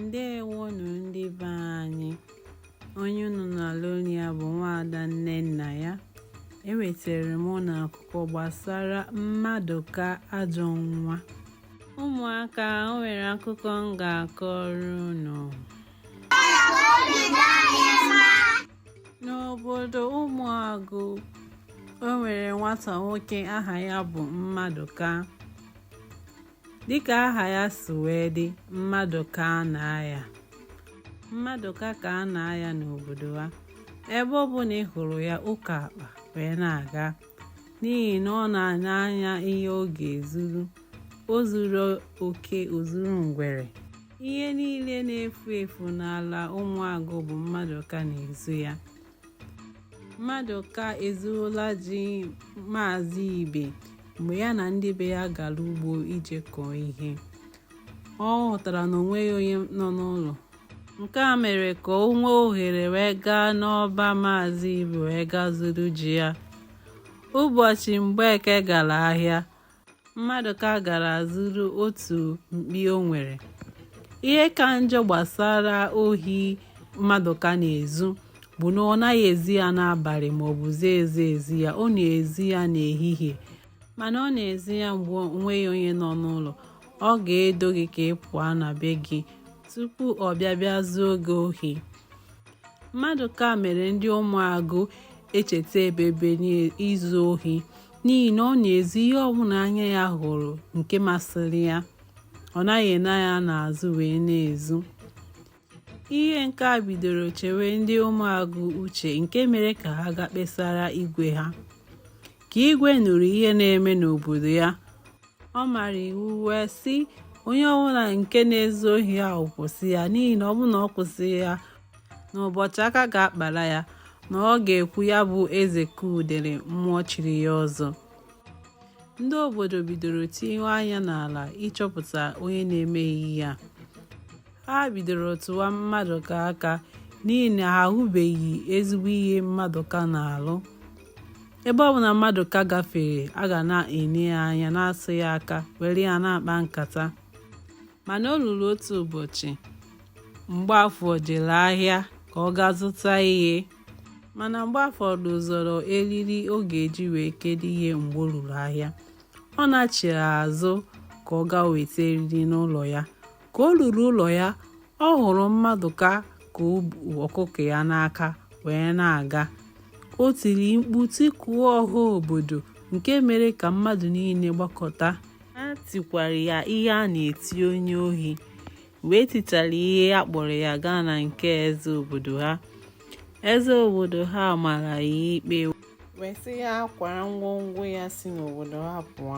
ndewonụ ndị be anyị onye unu na-anụ olu ya bụ nwaada nnennaya ewetara m unu akụkọ gbasara mmadụka ajọ nwa ụmụaka o nwere akụkọ m ga-akọrọ unu n'obodo ụmụagụ o nwere nwata nwoke aha ya bụ mmadụka dịka aha ya si wee dị mmadụ ka a na-aya mmadụka ka a na-aya n'obodo ha ebe ọ bụla ị hụrụ ya o ko akpa wee na-aga n'ihi na ọ na-ene anya ihe ọ ga-ezuru o zuru oke o zuru ngwere ihe niile na-efu efu n'ala ụmụagụ bụ mmadụka na-ezu ya Mmadụka ezuola ji Maazị Ibe mgbe ya na ndị be ya gara ugbo ije kọọ ihe. Ọ hụtara na onweghị onye nọ n'ụlọ. Nke a mere ka o nwee ohere wee gaa n'ọba Maazị Ibe wee gaa zuru ji ya. Ụbọchị Mgbeke gara ahịa, mmadụka gara zuru otu mkpi o nwere ihe ka njọ gbasara ohi mmadụka na-ezu bụ na ọ naghị ezi ya n'abalị ma ọ bụ zie ezi ezi ya ọ na-ezi ya n'ehihie mana ọ na-ezi ya mgbe onweghị onye nọ n'ụlọ ọ ga-edo gị ka ị pụọ na be gị tupu ọ bịa bịa zuo gị ohi mmadụka mere ndị ụmụagụ echeta ebebe n'izu ohi n'ihi na ọ na-ezu ihe ọbụla anya ya hụrụ nke masịrị ya ọ naghị ene anya n'azụ wee na-ezu ihe nke a bidoro chewe ndị ụmụagụ uche nke mere ka ha gaa kpesara igwe ha ka igwe nụrụ ihe na-eme n'obodo ya ọ mara iwu wee sị onye ọbụla nke na-ezu ohi ahụ kwụsị ya n'ihi na ọ bụrụ na ọ kwụsị ya n'ụbọchị aka ga-akpara ya na ọ ga-ekwu ya bụ eze ka udele mmụọ chiri ya ọzọ ndị obodo bidoro tinyewe anya n'ala ịchọpụta onye na-eme ihe ya ha bidoro tụwa mmadụka aka n'ihi na ha ahụbeghị ezigbo ihe mmadụka na-alụ ebe ọ bụla mmadụka gafere a ga na-ene ya anya na-asụ ya aka were ya na-akpa nkata mana o ruru otu ụbọchị mgbaafọ jere ahịa ka ọ gaa zụta ihe mana mgbaafọ dozoro eriri ọ ga-eji wee kedo ihe mgbe o ruru ahịa ọ nachiri azụ ka ọ gaa weta eriri n'ụlọ ya ka o ruru ụlọ ya ọ hụrụ mmadụka ka o bu ọkụkọ ya n'aka wee na-aga o tiri mkpu tikuo ọha obodo nke mere ka mmadụ niile gbakọta ha tikwara ya ihe a na-eti onye ohi wee tichara ihe a kpọrọ ya gaa na nke eze obodo ha eze obodo ha mara ya ikpe wee sị ya kwara ngwongwo ya si n'obodo ha pụọ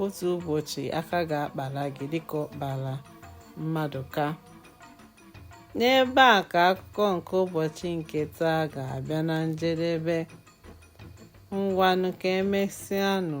otu ụbọchị aka ga-akpara gị dịka ọ kpara mmadụka n'ebe a ka akụkọ nke ụbọchị nke taa ga-abịa na njedebe ngwanụ ka emesịanụ